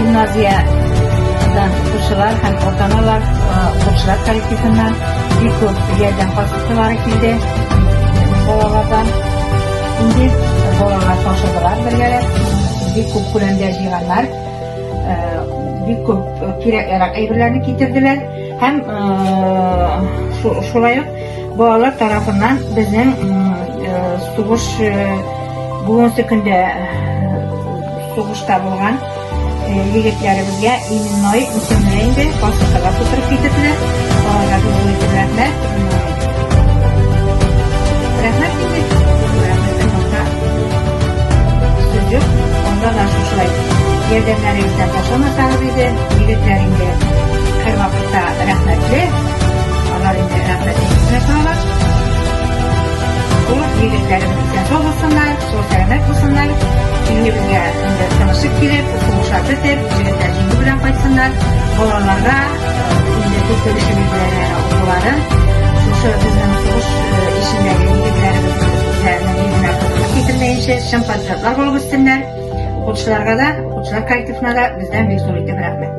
Гимназиядән укучылар һәм ата-аналар укучылар коллективыннан бик күп ярдәм посылкалары килде балалардан. Инде балалар ташыдылар бергәләп, бик күп күләмдә җыйганнар, бик күп кирәк ярак әйберләрне китерделәр һәм шулай ук балалар тарафыннан безнең сугыш Бүгенге көндә сугышта булган егетләребезгә именной исемле инде паспортка тутырып китерделәр. Аларга бик зур рәхмәт. Рәхмәт инде. Рәхмәттән башка сүз юк. Анда да шушылай ярдәмнәрегездән ташламасагыз иде. Егетләр инде һәрвакытта рәхмәтле. Алар инде рәхмәт итеп кенә торалар. Ул егетләребез Сау булсыннар, сау сәламәт булсыннар. Илебезгә инде тырышып килеп, укымыша бетеп, җегетләр җиңү белән кайтсыннар. Балаларга инде без белешебез белән укулары, шушы безнең сугыш эшендәге егетләребезләрнең йөзенә кызык китермәенчә, чын патриотлар булып үссеннәр. Укучыларга да, укучылар коллективына да бездән бик зур итеп рәхмәт.